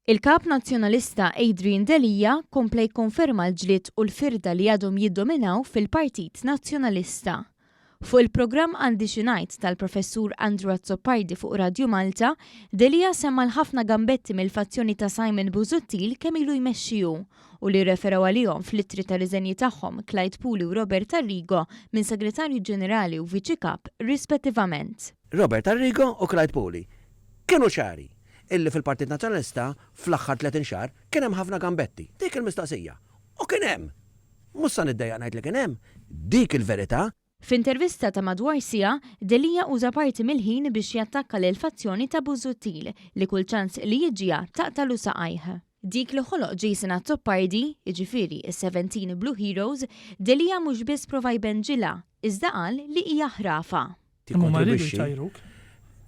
Il-Kap Nazzjonalista Adrian Delia kompla jikkonferma l-ġlied u l-firda li għadhom jiddominaw fil-Partit Nazzjonalista. Fuq il-programm Għandi xi ngħid tal-Professur Andrew Azzopardi fuq Radju Malta, Delia semma l-ħafna gambetti mill-fazzjoni ta' Simon Busuttil kemm ilu jmexxi hu. u li rreferew għalihom fl-ittri ta' riżenji tagħhom Clyde Puli u Robert Arrigo minn Segretarju Ġenerali u Viċi Kap rispettivament. Robert Arrigo u Clyde Puli kienu ċari illi fil-Partit Nazzjonalista fl-aħħar tletin xahar kien hemm ħafna gambetti. Dik il-mistoqsija. U kien hemm! Mhux sa niddejjaq ngħid li kien hemm. Dik il-verità. F'intervista ta' madwar siegħa, Delia uża parti mill-ħin biex jattakka lill-fazzjoni ta' Busuttil li kull ċans li jiġġiha taqtalu saqajh. Dik li ħoloq Jason Azzopardi, jiġifieri s-Seventeen Blue Heroes, Delia mhux biss prova jbenġilha, iżda qal li hija ħrafa. Imma huma riedu jtajruk,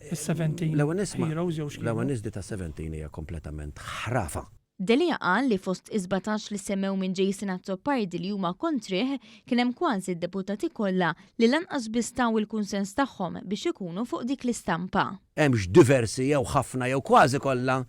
is-Seventeen Heroes jew x'kienu. L-ewwel nett, di tas-Seventeen hija kompletament ħrafa. Delia qal li fost is-sbatax li semmew minn Jason Azzopardi li huma kontrih kien hemm kważi d-deputati kollha li lanqas biss taw il-kunsens tagħhom biex ikunu fuq dik l-istampa. Hemmx diversi jew ħafna jew kważi kollha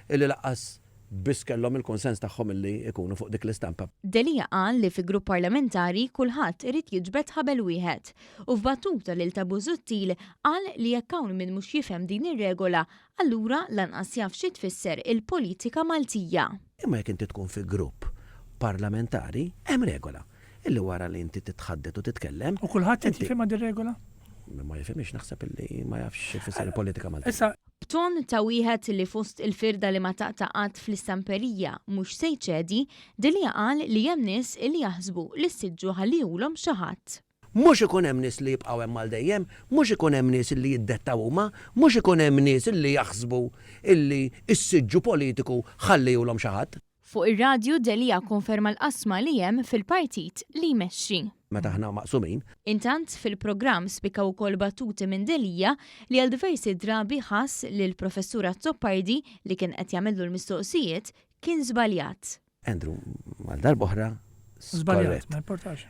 illi lanqas biss kellhom il-kunsens tagħhom illi ikunu fuq dik l-istampa. Delia qal li fi grupp parlamentari kulħadd irid jiġbed ħabel wieħed u f'battuta lil ta' Busuttil qal li jekk hawn min mhux jifhem din ir-regola Allura lanqas jaf xi tfisser il-politika Maltija. Imma jekk inti tkun fi grupp parlamentari, hemm regola, illi wara li inti titħaddet u titkellem. U kulħadd qed jifhimha dir-regola? Min ma jifhimhiex naħseb illi ma jafx xi tfisser il-politika Maltija. B'ton ta' wieħed li fost il-firda li ma taqta' qatt fl-istamperija mhux se jċedi, Delia qal li hemm nies illi jaħsbu li s-siġġu ħalliehulhom xi ħadd. Mhux ikun hemm nies li jibqgħu hemm għal dejjem, mhux ikun hemm nies li jiddettaw huma, mhux ikun hemm nies li jaħsbu li s-siġġu politiku ħalliehulhom xi ħadd. Fuq ir-radju Delia kkonferma l-qasma li hemm fil-partit li jmexxi. Meta aħna maqsumin. Intant, fil-programm spikkaw ukoll battuti minn Delia li għal diversi drabi ħass li l-Professur Azzopardi, li kien qed jagħmillu l-mistoqsijiet, kien żbaljat. Andrew, għal darb'oħra, skorrett.